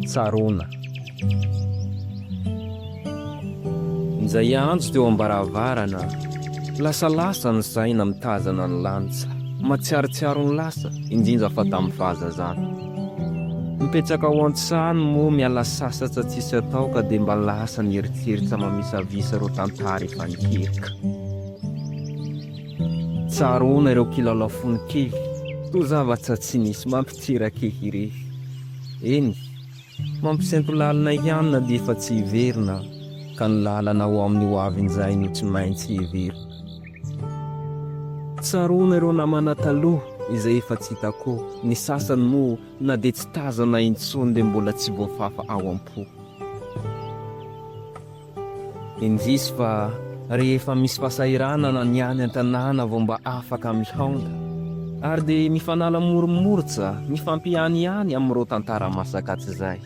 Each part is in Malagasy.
Tsaroana. Injay hiantso teo am-baravarana, lasalasa ny saina mitazana ny lanitra, matsiarotsiaro ny lasa, indrindra fa tamin'ny fahazazana. Mipetraka ao an-trano moa miala sasatra tsisy atao ka dia mba lasa ny eritreritra mamisavisa ireo tantara efa niteraka. Tsaroana ireo kilalao fony kely. Toa zavatra tsy nisy mantsy tsy rakefy irefy. Eny, mampisento lalina ihany na dia efa tsy hiverina ka ny lalana ho amin'ny ho avy injay no tsy maintsy heverina. Tsaroana ireo namana taloha izay efa tsy hita koa, ny sasany moa na dia tsy tazana intsony dia mbola tsy voafafa ao am-po. Indrisy fa rehefa misy fasahiranana ny any an-tanàna vao mba afaka mihaonda. Ary dia mifanala moromortsa mifampihany ihany amin'ireo tantara masaka tsy zay.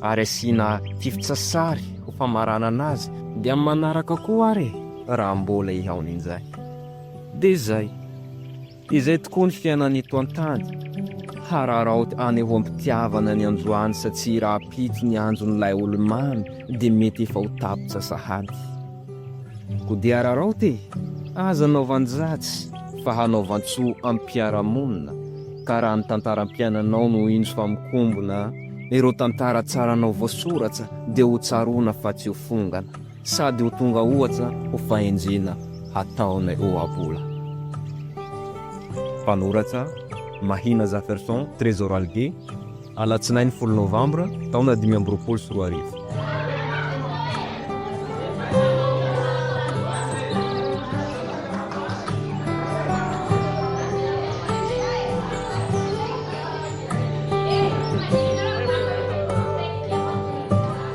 Ary asiana fiftsasary ho famaranana azy dia amin'ny manaraka koa ary e, raha mbola hihaona injay. Dia zay. Izay tokoa ny fiainana eto an-tany. Hararaoty any ho am-pitiavana ny anjo any satsia raha pitsy ny anjon'ilay olo-mamy dia mety efa ho tapitra sahady. Koa dia hararaoty e! Aza hanaovan-dratsy fa hanaovan-tsoa am-piarahamonina ka raha ny tantaram-piainanao no indro fa mikombona ireo tantara tsaranao voasoratra dia ho tsaroana fa tsy ho fongana. Sady ho tonga ohatra ho fahendrena hataonay ohabola. Mpanoratra, Mahina Jafferson Trésor Algué, Alatsinainy folo Novambra, taona dimy amby roapolo sy roa arivo.